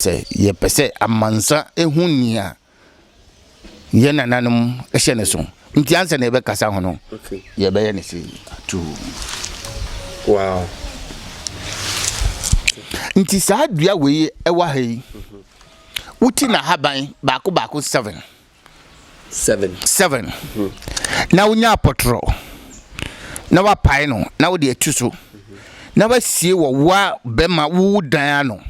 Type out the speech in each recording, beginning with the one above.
Sɛ yɛpɛ sɛ amansa hu nea yɛn nananom hyɛ no so nti ansa na yɛbɛkasa ho no, yɛbɛyɛ no sei. Atuu. Wow. Nti saa dua wei ɛwɔ ha yi, wote n'ahaban baako baako seven. Seven. Seven. Na wonya apɔtorɔ na wapae no na wode atu so na wasie wɔ woa bɛma wo dan ano.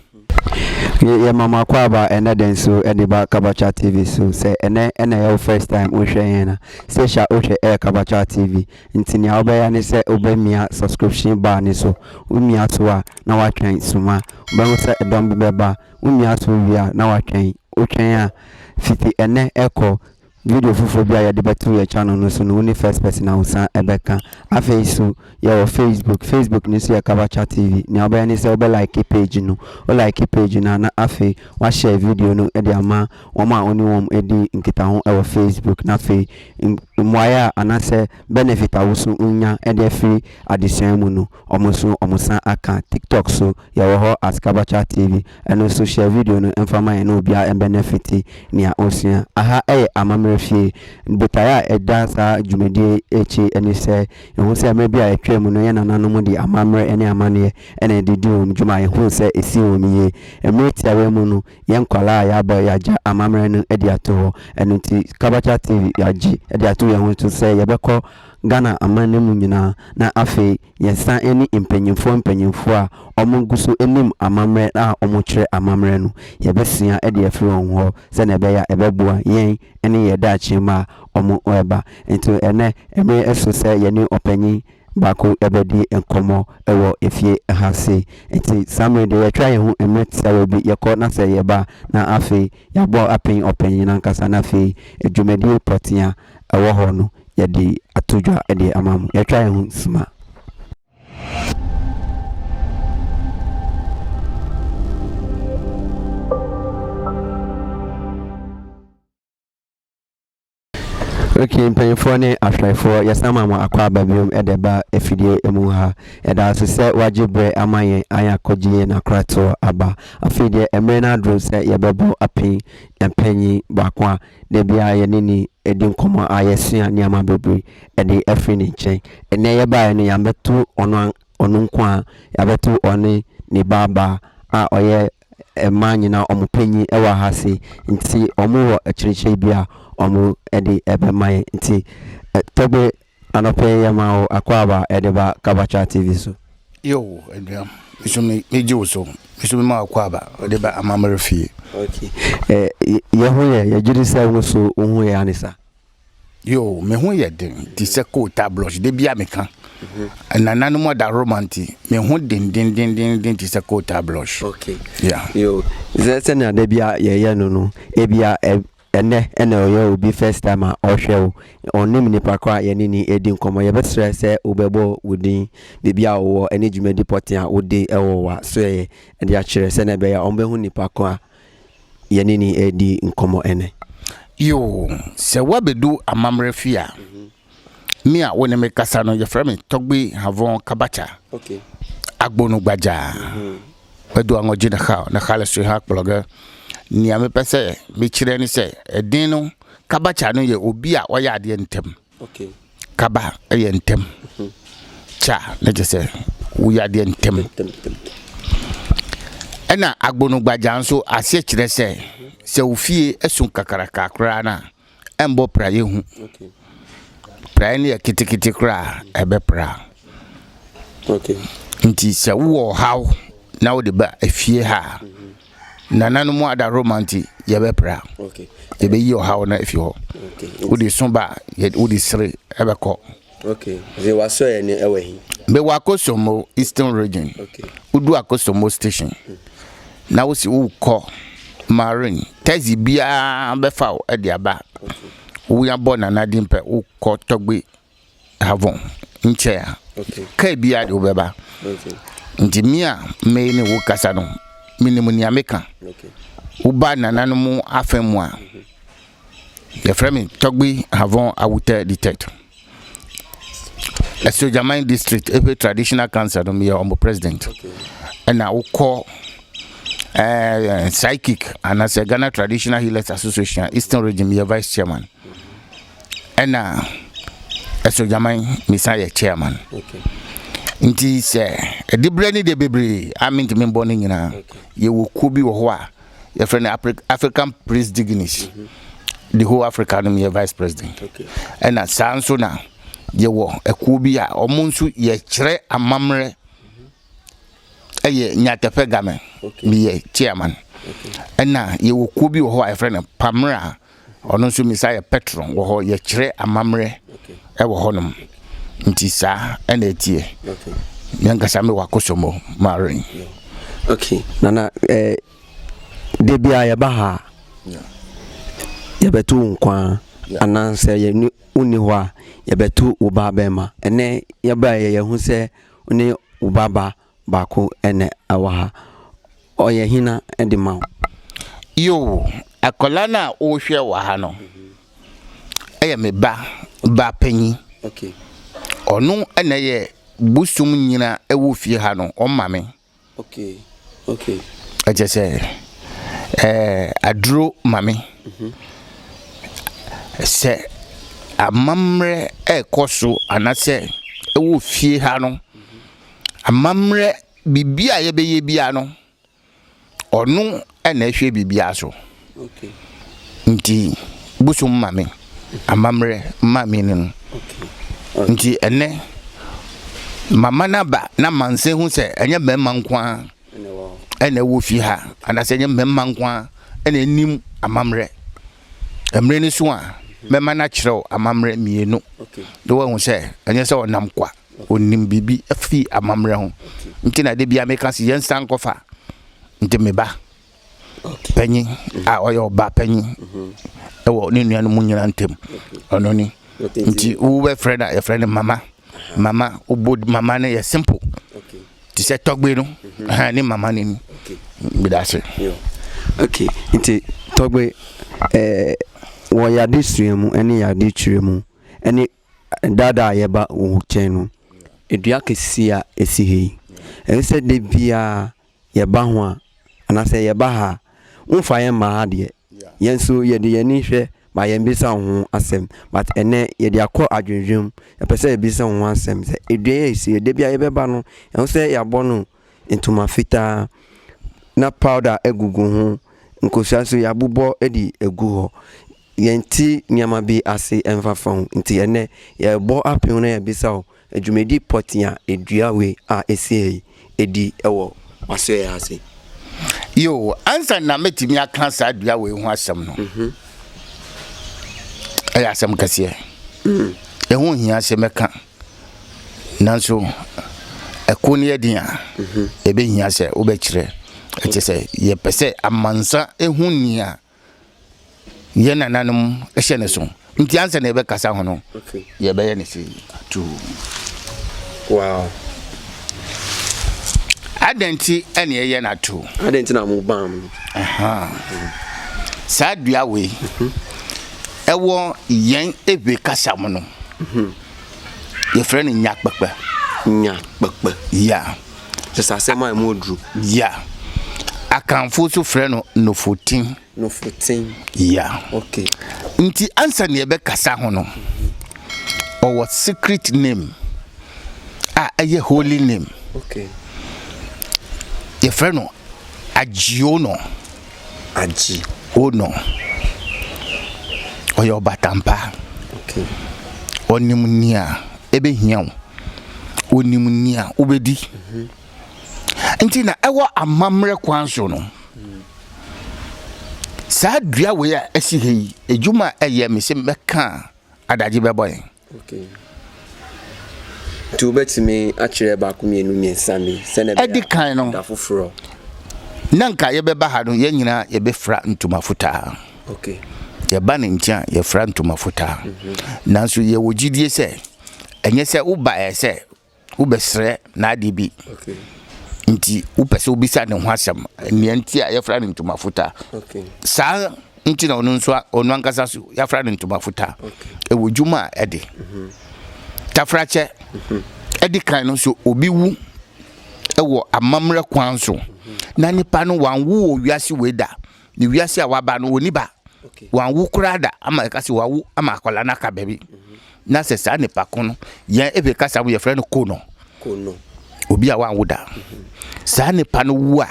Yɛ yɛ ma mo akwaaba ɛnɛ dɛn so ɛde ba kabacha tv so sɛ ɛnɛ ɛna ɛyɛ wo first time wo hwɛ yɛn a sɛhyɛ a wo hwɛ ɛyɛ kabacha tv nti nea wo bɛyɛ ne sɛ wo bɛ mia subscription bar ne so wo mia so a na wa twɛn suma wo bɛ ho sɛ ɛdɔm bi bɛ ba Wo nua so wie a na watwɛn. Wotwɛn a, fiti ɛnnɛ ɛkɔ, video foforɔ bi a yɛde bɛto yɛn channel no so no wo ne first person a wosan ɛbɛka. Afei nso yɛwɔ Facebook, Facebook no nso yɛ Kabacha TV. Nea wobɛyɛ ne sɛ wobɛ like page no. Wo like page no a na afei wa share video no de ama wɔn a wo ne wɔn di nkitaho wɔ Facebook. Na afei mmuaeɛ a anaasɛ benefit a wo nso wonya de afiri adesua mu no, Ɔmo nso ɔmo san aka tiktok so yɛwɔ hɔ as kabacha tv ɛno nso share video no mfa ma yɛn na obiaa mbɛnɛ fiti nea osua. Aha yɛ amammerɛ fie. Botaeɛ a ɛda saa dwumadie yi akyi ne sɛ yɛhu sɛ mmerɛ bi a ɛtwaa mu no yɛn nananom de amammerɛ ne amanneɛ na ɛde di wɔn dwuma a yɛhuu sɛ ɛsi wɔn yie. Mmerɛ tiawa yi mu no yɛn nkwadaa a yɛabɔ yɛagya amammerɛ no adi ato hɔ ɛno nti kabacha tv yɛagye de ato yɛn ho so sɛ yɛbɛkɔ Ghana amanne mu nyinaa, na afei yɛsan ɛne mpanyinfoɔ mpanyinfoɔ a wɔn ngu so nim amammerɛ a wɔn kyerɛ amammerɛ no, yɛbɛsua de afiri wɔn hɔ sɛdeɛ ɛbɛyɛ a ɛbɛboa yɛn ɛne yɛn daakye mma a wɔn reba. Nti ɛnnɛ mmere ɛso sɛ yɛne ɔpanyin baako ɛbɛdi nkɔmmɔ ɛwɔ efie ha sei. Nti saa mmere deɛ yɛtwa yɛn ho mmere tiawa yi bi, yɛkɔ na sɛ yɛba a na afei yɛabɔ apɛn ɔpanyin no ankasa na afei dwumadie pɔtea. ɛwɔ hɔ no yɛde ato dwa de ama mo. Yɛatwa yɛn ho sima. ok mpanyinfoɔ ne ahwɛfoɔ yɛsan ma mo akɔ aba biom ɛde ba afidie mu ha ɛda ase sɛ wagye berɛ ama yɛn ayɛ akɔgye yɛn akoratoɔ aba afei deɛ mmerɛ no adoro sɛ yɛbɛbɔ apin mpanyin baako a Da biara yɛne no di nkɔmmɔ a yɛsua nneɛma bebree de afiri ne nkyɛn. Ɛnnɛ yɛbaeɛ no yɛabɛto ɔno an ɔno nko ara, yɛabɛto ɔne ne babaa a ɔyɛ mmaa nyinaa wɔn panin wɔ ha ase. Nti wɔwɔ akyerɛkyerɛ bi a wɔde bɛma yɛn. Nti Tɛgbe Anɔpa yi yɛmaa wo akwaaba de ba Kabakya TV so. Yoo anuam me so me gye wo so me so me ma akwaaba de ba amammerɛ fie. Ok eh yɛ ho yɛ yɛ gyidi sɛ wo so wo ho yɛ ane sa? Yoo me ho yɛ den te sɛ coal tar blush da biara me ka nananom adahoroma nti me ho den den den den den te sɛ coal tar blush. Ok yeah. Yoo sɛ sɛnea da biara yɛ yɛ no no ebia Ɛnnɛ na ɔyɛ obi first time a ɔhwɛ wo, ɔnnim nipa koraa a yɛne no redi nkɔmmɔ. Yɛbɛsrɛ sɛ wobɛbɔ wo din, baabi a wowɔ ne dwumadi pɔtee a wode wɔ w'asoɛeɛ de akyerɛ sɛdeɛ ɛbɛyɛ a wɔbɛhu nipa ko a yɛne no redi nkɔmmɔ ɛnnɛ. Yoo, sɛ woabɛdu amammerɛ fie a, Me a wo ne me kasa no, yɛfrɛ me Tɔgbe Havon Kabacha. Okay. Agbonu Gbaja. Bɛdu mhm. anɔgye na ha, na ha le sue ha kplɔge. Nea mepɛ sɛ mekyerɛ ne sɛ, ɛden no, Kabacha no yɛ obi a ɔyɛ adeɛ ntɛm. Okay. Kaba yɛ ntɛm. Mhm. Cha ne kyɛ sɛ woyɛ adeɛ ntɛm. Ɛna Agbonu Gbaja nso aseɛ kyerɛ sɛ, sɛ ofie ɛso kakraka koraa no a, ɛmbɔ praeɛ hu. Praeɛ no yɛ ketekete koraa a ɛbɛpra. Nti sɛ wowɔ ɔhaw na wode ba efie ha a, nananom adaworoma nti yɛbɛpra. Yɛbɛyi ɔhaw no afi hɔ. Wode so ba a, wode sere ɛbɛkɔ. Ok, dze w'asɔɛɛ no wɔ he? Mewɔ Akosombo Eastern Region. Ok. Wodu Akosombo station na wose worokɔ Marin, taxi biara bɛfa wo de aba Wuabɔ Nana Dimpɛ wokɔ Tɔgbe Havon nkyɛn a, kaa biara de wo bɛba. Ntsi me a me ne wo rekasa no, minyim nea meka. Woba Nananom afa mu a, Yɛfrɛ me Tɔgbi Havon Awutɛ di third. Asogyaman district epe traditional council no meyɛ ɔmo president. Ɛna wokɔ ɛɛ eh, psychic anaasɛ Ghana Traditional Healers Association Eastern Region meyɛ vice chairman. Ɛna asogyaman mesan yɛ chairman. Okay. Nti sɛ ɛdibrɛ ne deɛ bebree a mentumi mbɔ no nyinaa. Yɛwɔ kuo bi wɔ hɔ a yɛfrɛ no african prince dignity mhm. the whole africa no yɛ vice president ɛna saa nso na yɛwɔ ɛkuo bi a wɔn nso yɛkyerɛ amammerɛ mhm. ɛyɛ nyatɛpɛ game meyɛ chairman ɛna yɛwɔ kuo bi wɔ hɔ a yɛfrɛ no pamera Ɔno nso misa yɛ pɛtron wɔ hɔ yɛkyerɛ amammerɛ wɔ hɔnom nti saa ɛna ɛteɛ me ankasa me wakosɔmɔ marin okay nana eh, da bia yɛba ha yɛbɛto wo nkwa anaasɛ yɛne wonni hɔ a yɛbɛto wo ba bɛma ɛnɛ yɛba yɛyɛ ho sɛ ne wo baba Baako na ɛwɔ ha. Ɔyɛ hena de ma wo? Yoo, akwadaa no a wohwɛ wɔ ha no yɛ me ba ba panyin. Okay. Ɔno na ɛyɛ bosom nyina ɛwɔ fie ha no, ɔma me. Okay, okay. Ɛkyɛ sɛ, ɛɛ aduro ma me. Mhm. Sɛ amammerɛ ɛrekɔ so anasɛ ɛwɔ fie ha no, Amammerɛ biribi a yɛbɛyɛ biara no, ɔno na ɛhwɛ biribiara so. Nti bosom ma me, amammerɛ ma me no no. Nti ɛnɛ, mama no aba na amansan hu sɛ ɛnyɛ mmarima nko ara ɛna ɛwɔ fie ha, anaasɛ ɛnyɛ mmarima nko ara ɛna ɛnim amammerɛ. Mmerɛ no so a, mɛma no akyerɛ wo amammerɛ mmienu na woahu sɛ ɛnyɛ sɛ ɔnam kwa. Ɔnim biribi firi amammerɛ ho nti na da biara meka sɛ yɛnsan nkɔfa nti me ba panyin a ɔyɛ ɔba panyin ɛwɔ ne nuanom nyinaa ntam ɔno ni nti wobɛfrɛ no a yɛfrɛ no mama mama wobɔ mama no yɛ simple te sɛ tɔgbe no ne mama no ni meda ase okay nti tɔgbe eh, wɔ yɛade sua mu ne yɛade kyerɛ mu ne Da da a yɛba wo nkyɛn no, dua kɛseɛ a ɛsi ha yi, ɛyɛ sɛ da biara yɛba ho a, anaasɛ yɛba ha a, womfa yɛn mma ha deɛ. Yɛn nso yɛde yɛn ani hwɛ ma yɛmmisa wo ho asɛm. But ɛnnɛ yɛde akɔ adwendwene mu, yɛpɛ sɛ yɛbisa wo ho asɛm sɛ dua yi a ɛsi ha yi, da biara yɛbɛba no, ɛho sɛ yɛabɔ no o, ntoma fitaa na powder gugu ho. Nkosua nso yɛabobɔ de agu hɔ. Yɛnte nneɛma bi ase mfafa ho nti ɛnnɛ yɛrebɔ apem na yɛabisa wo dwumadi pɔtee a edua wei a esi ha yi di wɔ w'asoɛe ase. Yoo, ansa na mɛtumi aka saa dua wei ho asɛm no, ɛyɛ asɛm kɛseɛ. Ɛho hia sɛ mɛka. Nanso, ɛko no yɛ den a, ebehia sɛ wobɛkyerɛ. Ɛkyerɛ sɛ, yɛpɛ sɛ amansa hu nea yɛn nananom hyɛ no so. Nti ansa na yɛbɛkasa ho no, yɛbɛyɛ no sei. Atuu. Wow. Adɛn nti na yɛyɛ no atuu? Adɛn nti na mobam? Aha. Saa dua wei. Mhm. Wɔ yɛn Ewe kasa mu no, yɛfrɛ no Nyakpekpe. Nyakpekpe. Yeah. Kyerɛ sɛ asɛm a ɛmu oduru. Yeah. Akanfo nso frɛ no Nofotin. Nofotin. Yeah. Okay. Nti ansa na yɛbɛkasa ho no, ɔwɔ secret name a ɛyɛ holy name. Okay. Yɛfrɛ no Agyeono, Agyeono, ɔyɛ ɔbatampa. Okay. Ɔnim nea ɛbɛhia wo. Ɔnim nea wobɛdi. Mm-hmm. Nti na ɛwɔ amammerɛ kwan so no. Mm. Saa dua wei a ɛsi ha yi, adwuma a ɛyɛ me sɛ mɛka a adagye bɛbɔ yɛn. Adi kan no, na anka yɛbɛba ha no, yɛn nyinaa yɛbɛfira ntoma fitaa. Yɛba ne nkyɛn a, yɛfira ntoma fitaa. Nanso yɛwɔ gyidie sɛ, ɛnyɛ sɛ wobaeɛ sɛ wobɛsrɛ n'ade bi nti wopɛ sɛ wobisa ne ho asɛm nea nti a yɛfra no ntoma futa saa nti na ɔno nso ɔno ankasa so yɛfra no ntoma futa ɛwɔ dwuma a ɛde mhm. tafrakyɛ mhm. ɛde kan no nso obi wu ɛwɔ amammerɛ kwan so mhm. na nipa no wanwo wɔ wiase wei da ne wiase a waba no wɔni ba wɔawo koraa da ama ɛka sɛ wɔawo ama akwadaa no aka baabi na sɛ saa nipa ko no yɛn ebi kasa mu yɛfrɛ no kono obi a wɔawo da saa nipa no wu a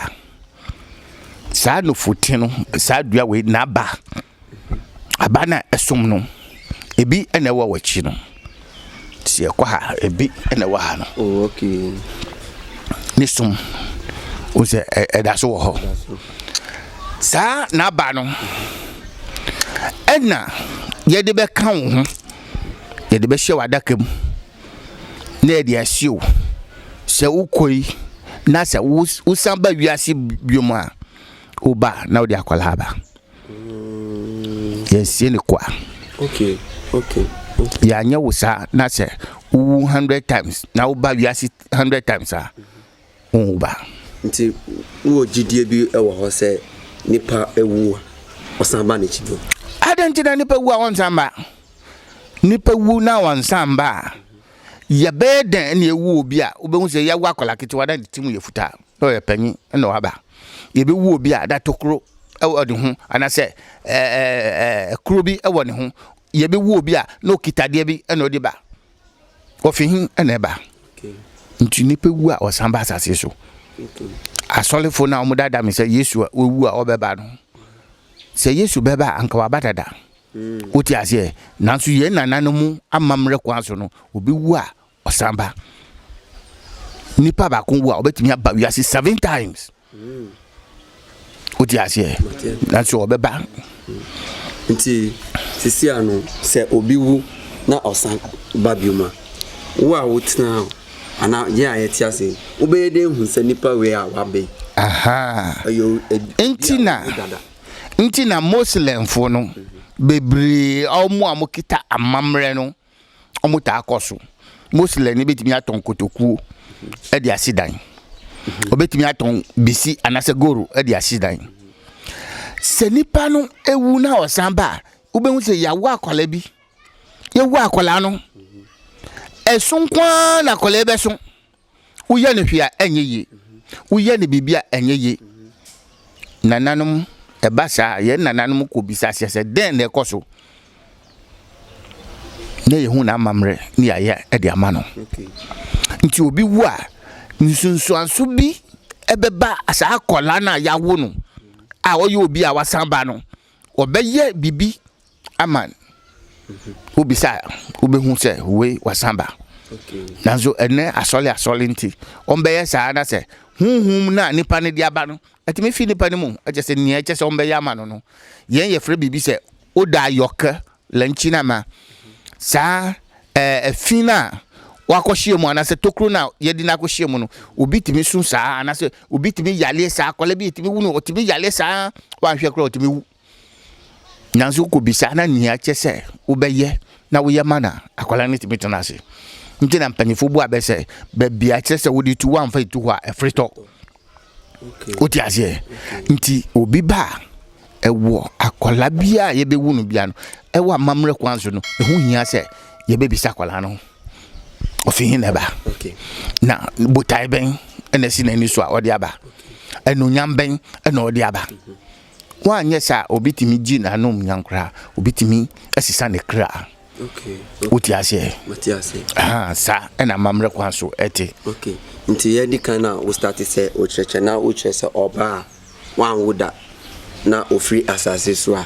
saa nufuti no saa dua wei n'aba aba no a ɛsom no ebi na ɛwɔ wɔ akyi no. Teɛ kɔ ha, ebi na ɛwɔ ha no. Oh, okay. Ne som, o sɛ ɛda so wɔ hɔ. Saa n'aba no, ɛna yɛde bɛka wo ho, yɛde bɛhyɛ w'adaka mu, na yɛde asie wo sɛ wokɔ yi, na sɛ wosan ba wiase biom a, woba na wode akwadaa ba. Yɛnsie no kwa. Yɛanyɛ wo saa na sɛ wowu hundred times na woba wiase hundred times a wonwu ba. Nti wowɔ gyidie bi wɔ hɔ sɛ nipa wu a ɔsan ba n'akyi bio? Adɛn nti na nipa wu a ɔnsan ba? Nipa wu na ɔnsan ba a yɛbɛyɛ dɛn na yɛwu obi a wobɛhu sɛ yɛwo akwadaa ketewa na ne ti mu yɛ fitaa na ɔyɛ panyin na waba? yɛbɛwu obi a da tokuro wɔ ne ho anaasɛ kuro bi wɔ ne ho yɛbɛwu obi a na ɔkitadeɛ bi na ɔde ba ɔfi he na ɛba nti nipa wu a ɔsan ba asase so asɔlefo no a wɔdada me sɛ yesu a wɔwu a ɔbɛba no sɛ yesu bɛba a anka waba dada mm. wote aseɛ nanso yɛn nana no mu amammerɛ kwan so no obi wu a Ɔsan ba. Nipa baako wu a, ɔbɛtumi aba wiase seven times. Wote aseɛ? Nanso ɔbɛba. Nti sisi ano sɛ obi wu na ɔsan ba bio ma wo a wotena hɔ anaa yɛn a yɛte ase wobɛyɛ dɛ hu sɛ nipa wei a waba yi. Nti na nti na Muslimfoɔ no bebree a wɔn a wɔkita amammerɛ no. wɔtaa kɔ so. Moslɛmni bɛtumi atɔn kotokuo de asi dan. Ɔbɛtumi atɔn bisi anaasɛ goro de asi dan. Sɛ nipa no ewu na ɔsan ba a, wobɛhu sɛ yɛawo akwadaa bi. Yɛwu akwadaa no, ɛso nko ara na akwadaa bɛso. woyɛ no hwee a ɛnyɛ yie woyɛ no biribi a ɛnyɛ yie nananom ɛba saa yɛn nananom kɔ bisa aseɛ sɛ dɛn na ɛkɔ so na yɛhu n'amammerɛ ne yɛayɛ de ama no nti obi wu a nsunsuanso bi ɛbɛba saa akwadaa no a yɛawo no a ɔyɛ obi a wasan ba no ɔbɛyɛ biribi ama wo bisa a wobɛhu sɛ wei wasan ba nanso ɛnɛ asɔle asɔle nti ɔmbɛyɛ saa na sɛ honhom no a nipa no de aba no ɛtumi fi nipa no mu ɛkyɛ sɛ nea ɛkyɛ sɛ ɔmbɛyɛ ama no no yɛn yɛfrɛ biribi sɛ woda ayɔkɛ lɛnkyi no ama saa ɛfi no a wakɔhyia mu anaasɛ tokuro no a yɛde no akɔhyia mu no obi tumi so saa anaasɛ obi tumi yaleɛ saa akɔla bi tumi wu no ɔtumi yaleɛ saa wanhwɛ koraa ɔtumi wu Nanso wokɔbisa na nea ɛkyɛ sɛ wobɛyɛ na woyɛ ma no a, akwadaa no tumi tena ase. Nti na mpanyinfoɔ bu abɛ sɛ baabi a kyerɛ sɛ wode tu woamfa etu hɔ a ɛfiri tɔ. Wote aseɛ? Nti obi ba a ɛwɔ akwadaa bi a yɛbɛwu no bia no ɛwɔ amammerɛ kwan so no ɛho hia sɛ yɛbɛbisa akwadaa no ɔfiri he na ɛba na botae bɛn ɛna ɛsi n'ani so a ɔde aba ɛnuonyam bɛn ɛna ɔde aba. Woanyɛ saa a, obetumi gye n'anom nya koraa. Obetumi asesa ne kra. Okay. okay. Wote aseɛ? Wote aseɛ. Aha, saa ɛna amammerɛ kwan so ɛte. Okay. Nti yɛdi kan a wostate sɛ wokyerɛkyerɛ na wokyerɛ sɛ ɔbaa a wanwo da na ofiri asase so a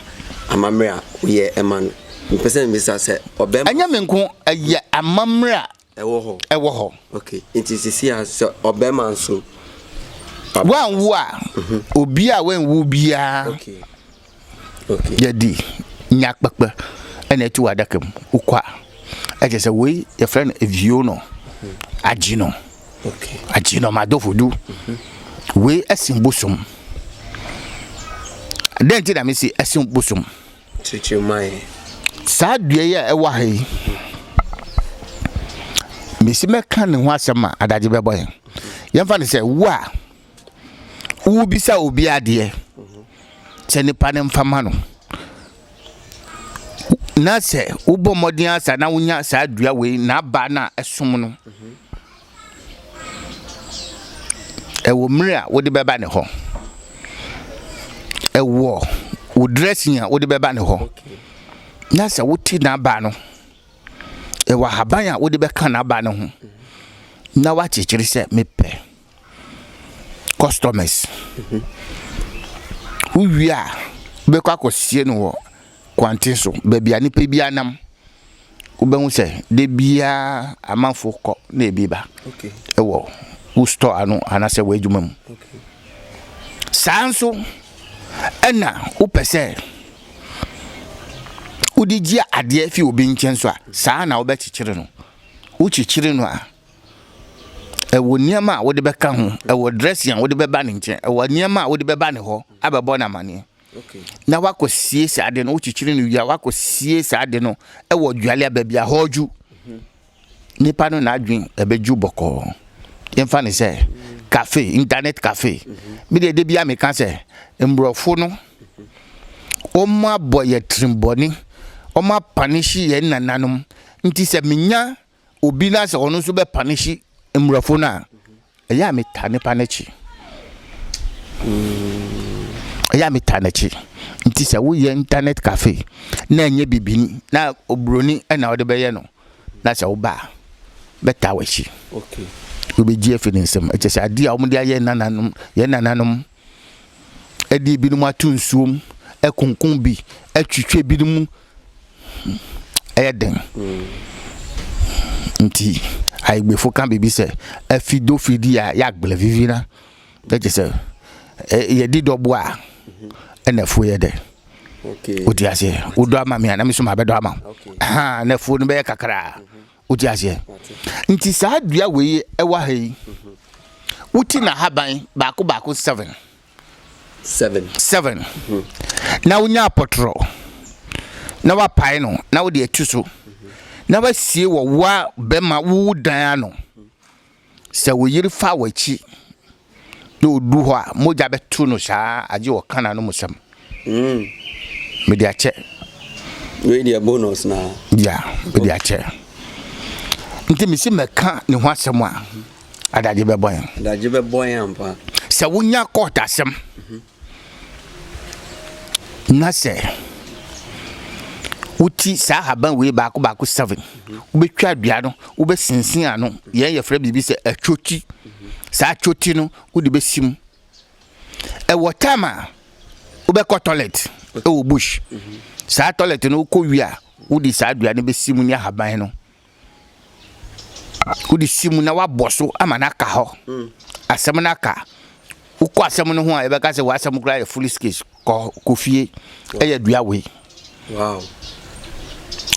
amammerɛ a woyɛ ɛma no. Mpɛ sɛ mbisa sɛ ɔbɛma. Ɛnyɛ me nko ɛyɛ amammerɛ a Ɛwɔ hɔ. Ɛwɔ hɔ. Okay, nti sisi a sɛ ɔbɛrima nso. Wanwu a, mhm. obi a wanwu biara. Okay. Okay. Yɛde nya kpɛkpɛ ɛna ɛtu wɔ adaka mu wokɔ a ɛkyɛ sɛ wei yɛfrɛ no evio no mhm. agye no agye no madofo du mhm. wei ɛsen bosom dɛn ti na mesi ɛsen bosom. Kyerɛkyerɛ ma yɛn. Saa dua yi a ɛwɔ ha yi, mesi mɛka ne ho asɛm ma adagye bɛbɔ yɛn. Yɛmfa no sɛ wo a wobisa obi adeɛ sɛ nipa no mfa ma no na sɛ wobɔ mmɔden asa na wonya saa dua wei n'aba no a ɛsom no. Wɔ mmere a wode bɛba ne hɔ. Wɔ wo dressing a wode bɛba ne hɔ. Na sɛ wote n'aba no, wɔ ahaban a wode bɛka n'aba no ho. Na woakyekyere sɛ mepɛ customers. Wowie a, wobɛkɔ akɔsie no wɔ kwanten so, baabi a nipa biara nam. Wobɛhu sɛ da biara amanfo kɔ na ebi ba wɔ wo store ano anaasɛ w'adwuma mu. Saa nso ɛna wopɛ sɛ wode gye adeɛ fi obi nkyɛn nso a, saa na wobɛkyekyere no. Wokyekyere no a, ɛwɔ nneɛma a wode bɛka ho, ɛwɔ dressing a wode bɛba ne nkyɛn, ɛwɔ nneɛma a wode bɛba ne hɔ abɛbɔ no amanneɛ. na wakɔ sie saa de no wokyekyere no wie a wakɔ sie saa de no wɔ dwale a baabi a hɔɔdwo nipa no n'adwen ɛbɛdwo bɔkɔɔ yɛmfa ne sɛ cafe internet cafe me deɛ de bia meka sɛ mborɔfo no wɔn abɔ yɛ tirimbɔne wɔn apanehye yɛn nananom nti sɛ menya obi na sɛ ɔno nso bɛ paneshi mmorɔfo no a ɛyɛ a meta nipa n'akyi ɛyɛ a meta n'akyi nti sɛ woyɛ internet cafe na ɛnyɛ bibini na oburoni ɛna ɔde bɛyɛ no na sɛ woba a bɛta w'akyi wobɛgye afi ne nsam ɛkyɛ sɛ adeɛ a wɔde ayɛ nananom yɛ nananom ɛde ebinom ato nsuom ɛkonko bi ɛtwitwe ebinom ɛyɛ den nti ayigbefo ka biribi sɛ afi do fi di a yɛagblɛ vivi na ɛgye sɛ yɛdi dɔbo a ɛna afuo yɛ dɛ wodi aseɛ wodɔ ama me a na me so mabɛdɔ ama wo ha na afuo no bɛyɛ kakraa wodi aseɛ nti saa dua wei ɛwɔ ha yi woti na haban baako baako seven Seven. Seven. Na wonya apɔtorɔ na wapae no na wode atu so na wasie wɔ woa bɛma wo dan ano. Sɛ wo yere fa w'akyi na odu hɔ a, mogya bɛto no saa agye wɔ kana no musɛm. Mm. Mede akyɛ. Wei deɛ bonus na. Ya, mede akyɛ. Nti mesi mɛka ne ho asɛm a. Adagye bɛbɔ yɛn. Adagye bɛbɔ yɛn ampa. Sɛ wonya court asɛm na sɛ woti saa haban wei baako baako seven wobɛtwa adua no wobɛsinsin ano yɛn yɛfrɛ biribi sɛ atwoti saa atwoti no wode bɛsi mu ɛwɔ tam a wobɛkɔ toilet ɛwɔ bush saa toilet no wokɔ wie a wode saa adua no bɛsi mu ne ahaban no wode si mu na woabɔ so ama no aka hɔ asɛm no aka wokɔ asɛm no ho a yɛbɛka sɛ w'asɛm koraa yɛ foolish case kɔ kɔ fie ɛyɛ dua wei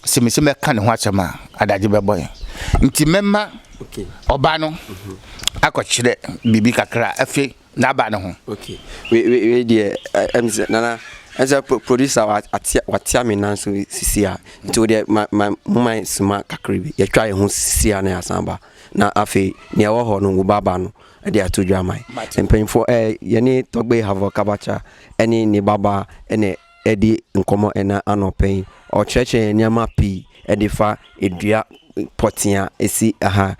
sɛ mese mɛka ne ho asɛm a adagye bɛbɔ yɛn nti mɛma ɔba no akɔkyerɛ biribi kakra afei n'aba no ho. Okay wei wei wei deɛ ɛ ɛm sɛ nana ɛm sɛ pro producer wa atia watia me nan so sisi a nti o deɛ ma ma mo ma suma kakra bi yɛtwa yɛn ho sisi a na yɛasan ba na afei nea ɛwɔ hɔ no wo ba ba no ɛde ato dwa ama yi Mate. mpanyinfoɔ ɛɛ yɛne tɔgbe havɔ kabacha ɛne ne ba ba ɛna ɛdi nkɔmɔ ɛna anɔpɛ yi ɔkyerɛkyerɛ yɛn nneɛma pii ɛde fa edua pɔtea esi ɛha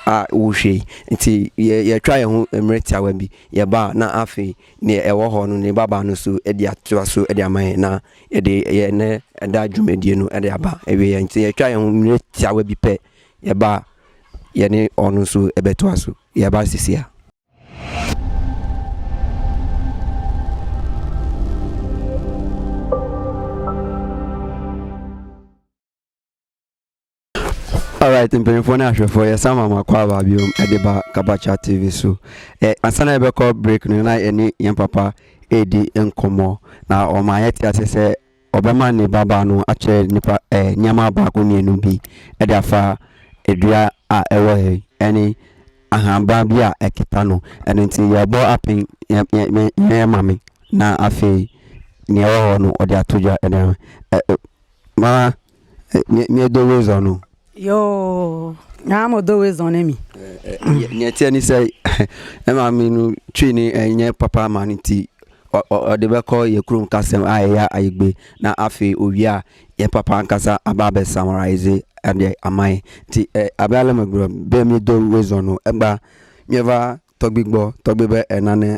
a wohwɛ yi nti yɛ yɛtwa yɛn ho mmerɛ tiawa bi yɛba a na afei nea ɛwɔ hɔ no ne babaa no so de atoa so de ama yɛn na yɛde yɛn ne ɛda dwumadie no de aba awie yɛn nti yɛtwa yɛn ho mmerɛ tiawa bi pɛ yɛba a yɛne ɔno nso ɛbɛtoa so yɛba sisi a. Alright mpanyinfoɔ ne ahwɛfoɔ yɛ san ma ma kɔ aba biom ɛde ba Kabacha TV so ɛ ansa na yɛbɛkɔ break no na yɛne yɛn papa ɛredi nkɔmɔ na ɔma yɛte ase sɛ ɔbɛma ne babaa no akyerɛ nipa ɛ nneɛma baako mmienu bi ɛde afa adua a ɛwɔ yɛ ɛne ahanban bi a ɛkita no ɛno nti yɛbɔ apen yɛ yɛ yɛ maame na afei nea ɛwɔ hɔ no ɔde ato dwa ɛde ama ɛ ɛ maa. Neɛ neɛ do we zɔ no. Yoo naa mo do we zɔ ne mi. Neɛ ɛteɛ ne sɛ ne maame no twi ne ɛnyɛ papa ma no nti ɔde bɛkɔ yɛ kurom kasɛm a ɛyɛ ayigbe na afei owie a yɛ papa ankasa aba abɛ samaraize adeɛ ama yɛ nti abɛ alɛ mɛ gberɔ bɛ mi do we zɔ no ɛgba miɛva tɔgbi gbɔ tɔgbi bɛ ɛna ne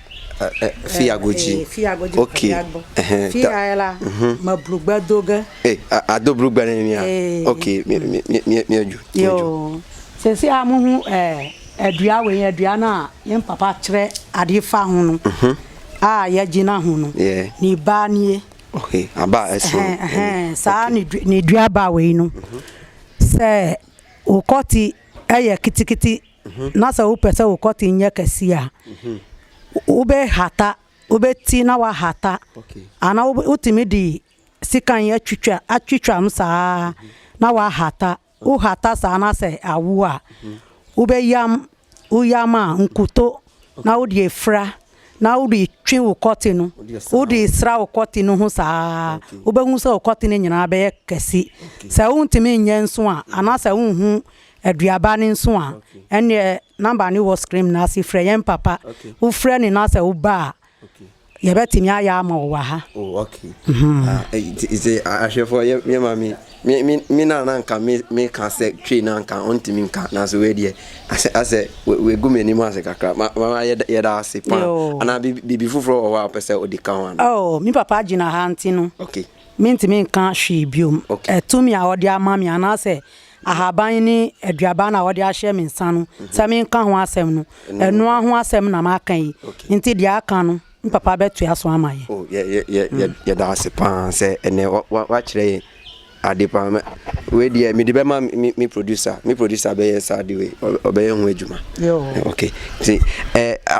Fi ago dzi. Fi ago dzi pa bi agbo. Fi ayɛ la ma brugba do ge. A do brugba ne ni a. Ok, mi adwo. Yoo, sɛsɛ a mo hu adua wei, adua no a yɛn papa kyerɛ adeɛ fa ho no a yɛgyina ho no, ne ba nie. Ok, aba a ɛso. Saa ne dua ba wei no, sɛ wokɔte ɛyɛ kitikiti. na sɛ wopɛ sɛ wo kɔte nyɛ kɛse a, wobɛhata, wobɛti na wahata, anaa wotumi de sekan atwitwa atwitwam saa na wahata. Wohata saa na sɛ awo a, wobɛyam, woyam a nkuto na wode afira na wode twe wo kɔte no, wode sra wo kɔte no ho saa, wobɛhu sɛ wo kɔte no nyinaa bɛyɛ kɛse. Sɛ wontumi nyɛ nso a, anaasɛ wonhu Aduaba no nso a, ɛnneɛ number no wɔ screen no ase, frɛ yɛn papa. Wofrɛ no na sɛ woba a, yɛbɛtumi ayɛ ama wo wɔ ha. Oh, okay. Mm-hmm. Ah, eh, nti sɛ ahwɛfoɔ yɛ yɛ ma me me me me na na nka me me ka sɛ twe na nka ɔntumi nka nanso wei deɛ asɛ asɛ wegu m'anim ase kakra ma ma yɛ yɛda ase paa Yo. anaa biribi biribi foforɔ wɔ hɔ a wopɛ sɛ wode ka ho anaa Oh, me papa gyina ha nti no, okay mentumi nka hwee biom. okay Ɛtumi a ɔde ama me anaasɛ ahaban ne aduaba na wɔde ahyɛ me nsa no sɛ menka ho asɛm no ɛnoa ho asɛm na maka yi nti deɛ aka no n papa bɛtoa so ama yɛ oh, yɛda ase paa sɛ ɛnɛ wakyerɛ yɛ ade paa wei deɛ mede bɛma me producer me producer bɛyɛ saa de wei ɔbɛyɛ ho adwuma ok nti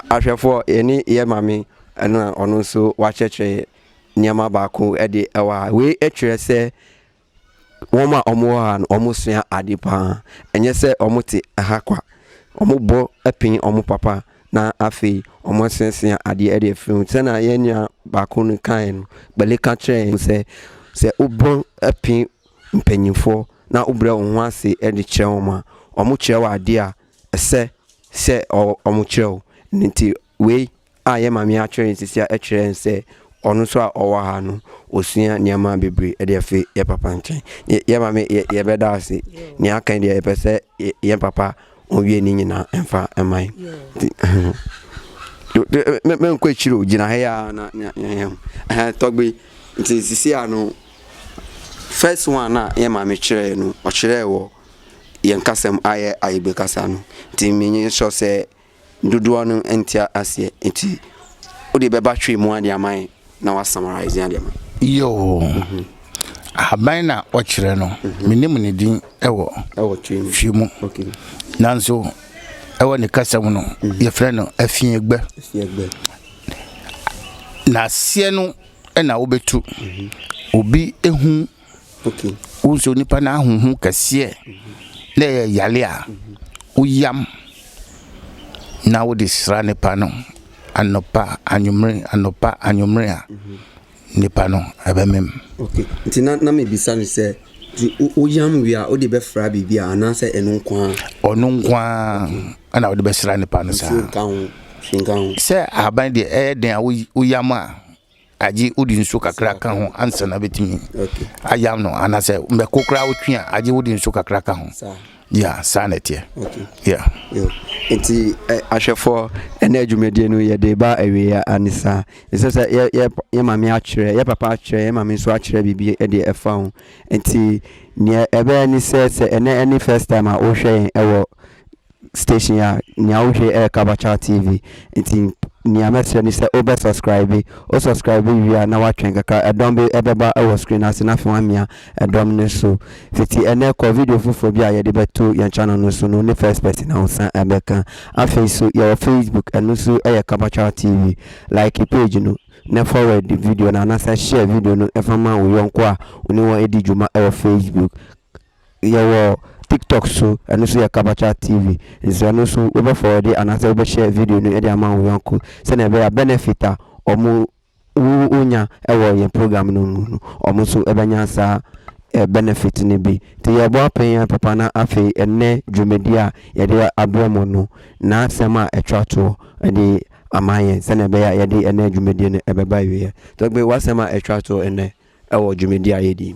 ahwɛfoɔ yɛne yɛ ma me ɛno a ɔno nso wakyerɛkyerɛ nneɛma baako de ɛwɔ a wei kyerɛ sɛ wɔn a wɔwɔ ha no, wɔsua ade pa ara. Ɛnyɛ sɛ wɔte ha kwa. Wɔbɔ pene wɔn papa, na afei wɔasuasua adeɛ de afiri ho. Sɛdeɛ yɛn nua baako no kaeɛ no, Gbale ka kyerɛɛ yɛn sɛ, sɛ wobɔ pene mpanimfoɔ na wobrɛ wo ho ase de kyerɛ wɔn a, wɔkyerɛ wo adeɛ a ɛsɛ sɛ wɔkyerɛ wo. Ɛno nti, Wei a yɛn maame atwerɛ yɛn sisi a ɛkyerɛ yɛn sɛ ɔno nso a ɔwɔ ha no ɔsua nneɛma bebree de afiri yɛn papa nkyɛn yɛn maame yɛbɛda ase nea aka deɛ yɛpɛ sɛ yɛn papa ɔwie ne nyinaa ɛmfa ɛma yi mɛnkɔ akyiri o gyina ha yi a na yɛn tɔgbe nti sisi a no first one a yɛn maame kyerɛɛ no ɔkyerɛɛ wɔ yɛn kasam ayɛ ayebe kasa no nti menye sɔ sɛ Dodoɔ no nte aseɛ nti wode bɛba hwee mu ade ama yɛn na wa summarize ade ama. Yoo. Ahaban na ɔkyerɛ no mhm. menim ne din ɛwɔ hwee mu nanso ɛwɔ ne kasa mu no mhm. yɛfrɛ no afiɛgbɛ na aseɛ no ɛna wobɛtu mhm. obi ehu Wosɛ onipa no ahonhom kɛseɛ na ɛyɛ yale a, woyam na wode sra nipa no anɔpa anwummere anɔpa anwummere a nipa no ɛbɛmem. Okay. Nti na na mebisa no sɛ nti woyam wie a wode bɛfra biribi a anaasɛ ɛno nko ara? Ɔno nko ara ɛna wode bɛsra nipa no saa. Nsuo nka ho, hwee nka ho. Sɛ ahaban deɛ ɛyɛ den a woyam a Agye wode nsuo kakra ka ho ansa na bɛtumi ayam no anasɛ mɛko koraa wotwe a agye wode nsuo kakra ka ho ya saa na ɛteɛ ya nti ahwɛfoɔ ɛna adwumadie no yɛde ba awieɛ ane saa ɛsɛ sɛ yɛ maame akyerɛ yɛ papa akyerɛ yɛ maame nso akyerɛ biribi ɛde ɛfa ho nti neɛ ɛbɛyɛ ne sɛ sɛ ɛnɛ ɛne first time a wohwɛ yɛn ɛwɔ station a nea wohwɛ yi ɛyɛ Kabakyaaw TV nti nea mɛsrɛ ne sɛ wobɛ subscribe, wo subscribe wie a na woatwɛn kakra ɛdɔm bi ɛbɛba ɛwɔ screen no ase na afei woamia ɛdɔm no so. Fiti ɛnnɛ kɔ video foforɔ bi a yɛde bɛto yɛn channel no so no wone first person a wosan ɛbɛka. Afei nso yɛwɔ Facebook ɛno nso ɛyɛ Kabakyaaw TV. Like page no na forward video no anaasɛ share video no ɛfa ma wo yɔnko a wone wɔn ɛdi dwuma ɛwɔ Facebook. Yɛwɔ TikTok so, ɛno nso yɛ Kabacha TV. Nso ɛno nso wobɛ forwarde anaasɛ wobɛ share video no de ama wo yɔnko sɛnea ɛbɛyɛ a benefit a ɔmo wo wonya ɛwɔ yɛn program no mu no ɔmo nso ɛbɛnya saa benefit no bi. Nti yɛbɔ apɛn yɛn papa na afei ɛnnɛ dwumadie a yɛde abrɛ mo no n'asɛm a ɛtwa toɔ ɛde ama yɛn sɛnea ɛbɛyɛ a yɛde ɛnnɛ dwumadie no ɛbɛba awieɛ. Tɔgbe w'asɛm a ɛtwa toɔ ɛnnɛ wɔ dwumadi a yɛdi.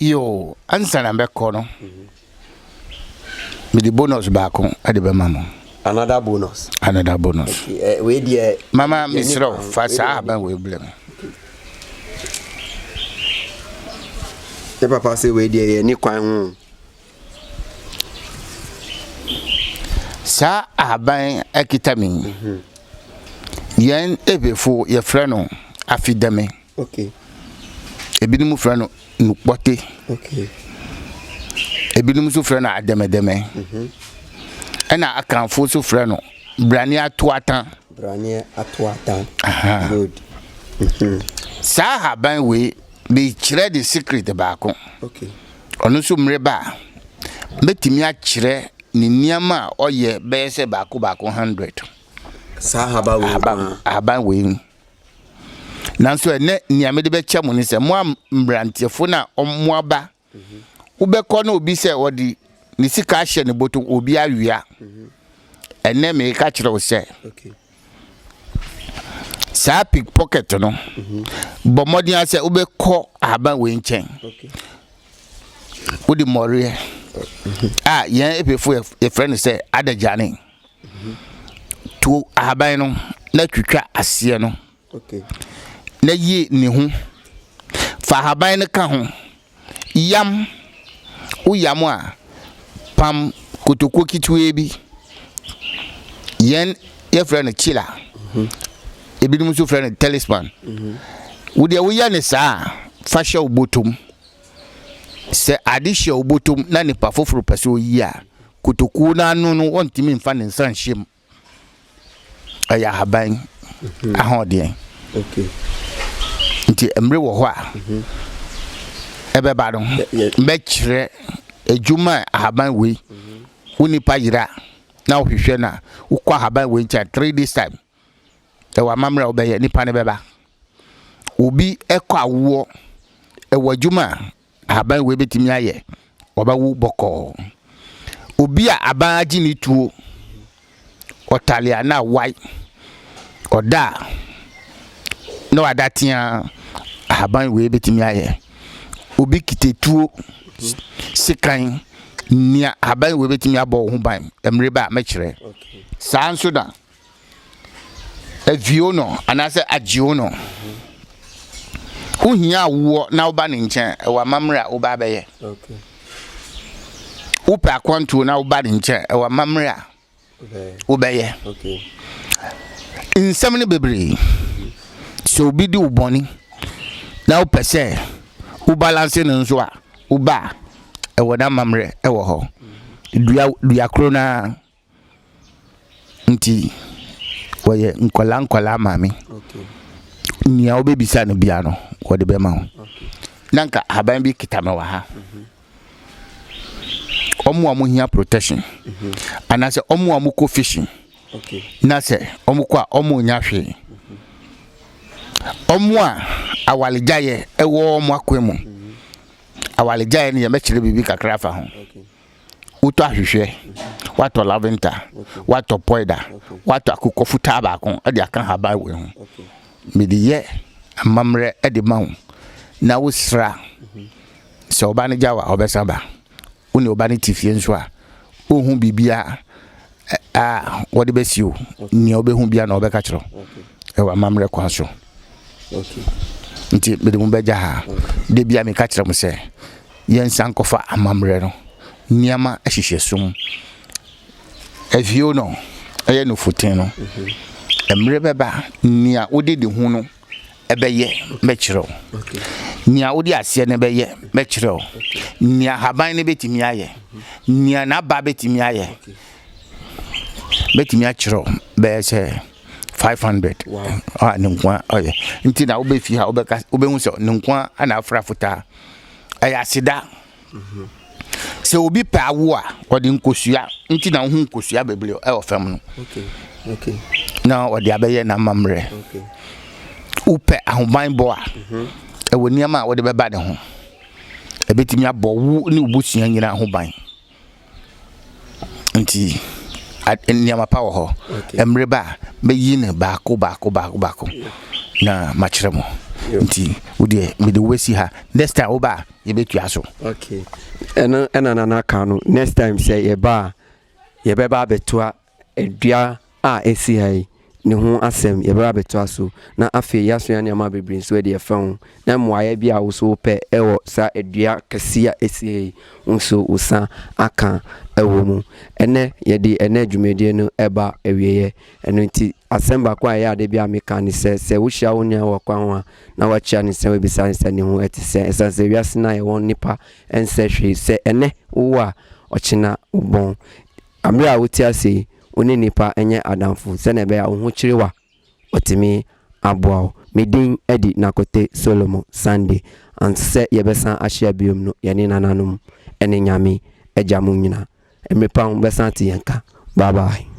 Yoo, ansa na mɛkɔ no, mede bonus baako de bɛma mo. Another bonus? Another bonus. Okay, wei deɛ. Mama mesrɛ wo, fa saa ahaban wei blɛ me. Ne papa sɛ wei deɛ yɛni kwan ho. Saa ahaban akita me yi, mhm. yɛn ebefo yɛfrɛ no afidame. Okay. Ebinom frɛ no nukpɔte. Okay. Ebinom nso frɛ no adɛmɛdɛmɛ. Mhm. Ɛna akanfo nso frɛ no braneɛ atoatan. Braneɛ atoatan. Good. Mhm. Saa haban wei mekyerɛ de secret baako. Okay. Ɔno nso mmereba a mɛtumi akyerɛ ne nneɛma a ɔyɛ bɛyɛ sɛ baako baako hundred. Saa haban wei. Haban wei. nanso ɛnɛ nea mede bɛkyɛ mo ne sɛ mo a mmeranteɛfo na mo aba wobɛkɔ na obi sɛ ɔde ne sika ahyɛ ne bɔtɔ obi awia ɛnɛ meka kyerɛ wo sɛ saa pick pocket no bɔ mmɔden a sɛ wobɛkɔ ahaban wei nkyɛn wode mmɔreɛ a yɛn ɛpɛfo yɛfrɛ no sɛ adagyane Tuo ahaban no na twitwa aseɛ no na yi ne ho. Fa ahaban no ka ho. Yam, woyam a, pam kotokuo ketewaa bi. Yɛn yɛfrɛ no kyila, ebinom nso frɛ no talisman. Wo deɛ woyɛ no saa a, fa hyɛ wo bɔtɔ mu. Sɛ ade hyɛ wo bɔtɔ mu na nipa foforɔ pɛ sɛ ɔyi a, Kotokuo no ano no wɔntumi nfa ne nsa nhyɛ mu. Ɛyɛ ahaban mhm. ahoɔdeɛ. Nti mmere wɔ hɔ a mhm. ɛbɛba no mɛkyerɛ adwuma ahaban wei mhm. wo nipa yera na wohwehwɛ no a wokɔ ahaban wei nkyɛn three days time ɛwɔ amammerɛ a wobɛyɛ nipa no bɛba obi ɛkɔ awoɔ ɛwɔ adwuma a ahaban wei bɛtumi ayɛ ɔbɛwo bɔkɔɔ obi a aban agye ne tuo ɔtale a na awae ɔda a na wada tea ahaban wei bɛtumi ayɛ obi kitetuo sekan nea ahaban wei bɛtumi abɔ wo ho ban mmerɛ bɛ a mɛkyerɛ saa nso da Avio no anaasɛ agyeo no. Wohia a wowɔ na woba ne nkyɛn ɛwɔ amammerɛ a woba abɛyɛ. Wopɛ akwantuo na woba ne nkyɛn ɛwɔ amammerɛ a wobɛyɛ. Nsɛm no bebree. Sɛ obi di wo bɔne na wopɛ sɛ wobalanse no nso a woba a ɛwɔ n'amammerɛ ɛwɔ hɔ. Dua dua koro no ara. nti wɔyɛ nkwadaa nkwadaa maame nea wobɛbisa no bia no wɔde bɛma wo na nka ahaban bi kita me wɔ ha ɔmo a mohia protection mhm. anaasɛ ɔmo a mokɔ fishing na sɛ ɔmo kɔ a ɔmo nya hwee mhm. ɔmo a awalegyaeɛ ɛwɔ ɔmo akwan mu mhm. awalegyaeɛ no yɛmɛkyerɛ biribi kakra afa ho wotɔ ahwehwɛ, watɔ laventa, watɔ pɔida, watɔ akokɔ fitaa baako de aka haban wei ho. Mede yɛ amammerɛ de ma wo na wosra sɛ ɔba no gya wa ɔbɛsa ba. Wo ne ɔba no te fie nso a, ɔhu biribiara a wɔde bɛsi o nea wobɛhu bia na wɔbɛka kyerɛ ɛwɔ amammerɛ kwan so nti mede mu bɛgya ha de bia meka kyerɛ mo sɛ yɛnsa nkɔfa amammerɛ no nneɛma ahyehyɛ som avio no ɛyɛ no futen no mmerɛ bɛba nea wode de ho no bɛyɛ mɛkyerɛ wo, nea wode aseɛ no bɛyɛ mɛkyerɛ wo, nea haban no bɛtumi ayɛ, nea n'aba bɛtumi ayɛ mɛtumi akyerɛ wo bɛyɛ sɛ five hundred a ne nkoa ɔyɛ nti na wobɛfi ha wobɛka wobɛhu sɛ ne nkoa na afra fotaa ɛyɛ aseda Sɛ obi pɛ awo a, ɔde nkosua nti na wohu nkosua bebree ɛwɔ fam no. Na ɔde abɛyɛ n'amammerɛ. Wopɛ ahobanbɔ a, ɛwɔ nneɛma a wode bɛba ne ho. Ɛbɛtumi abɔ wo ne w'abusua nyinaa ho ban. Nti nneɛma pa wɔ hɔ. Mmere ba a, mɛyi no baako baako baako baako na makyerɛ mo. Nti wo deɛ mede wo bɛsi ha. Next time woba a, yɛbɛtua so. Okay. Ɛno ɛna nana ka no. Next time sɛ yɛba a, yɛbɛba abɛtoa Dua a ɛsi ha yi, ne ho asɛm, yɛbɛba abɛtoa so, na afei yɛasua nneɛma bebree nso adi afa ho, na mmuaeɛ bi a wo nso wopɛ wɔ saa dua kɛseɛ a ɛsi ha yi, wo nso wo nsa aka wɔ mu. Ɛnnɛ, yɛde ɛnnɛ dwumadie no reba awieeɛ, ɛno nti asɛm baako a ɛyɛ a da biara meka ne sɛ, sɛ wohyia wo nua wɔ kwan ho a, na woakyia no nsɛm abisa no sɛ ne ho te sɛn, ɛsiane sɛ wiase no a yɛwɔ no nnipa nsɛ hwee, sɛ ɛnnɛ wowɔ a, ɔkyena wobɔn. Bere a wote ase yi, wo ne nnipa nyɛ adamfo sɛnea ɛbɛyɛ a wo ho kyere wo a, wɔatumi aboa wo. Me din de Nakote Solomon Sunday. Ansa sɛ yɛbɛsan ahyia bio no, yɛne nananom ne Nyame Agya mo nyinaa, mmere pa ho, bɛsan ate yɛn nka. Bye bye.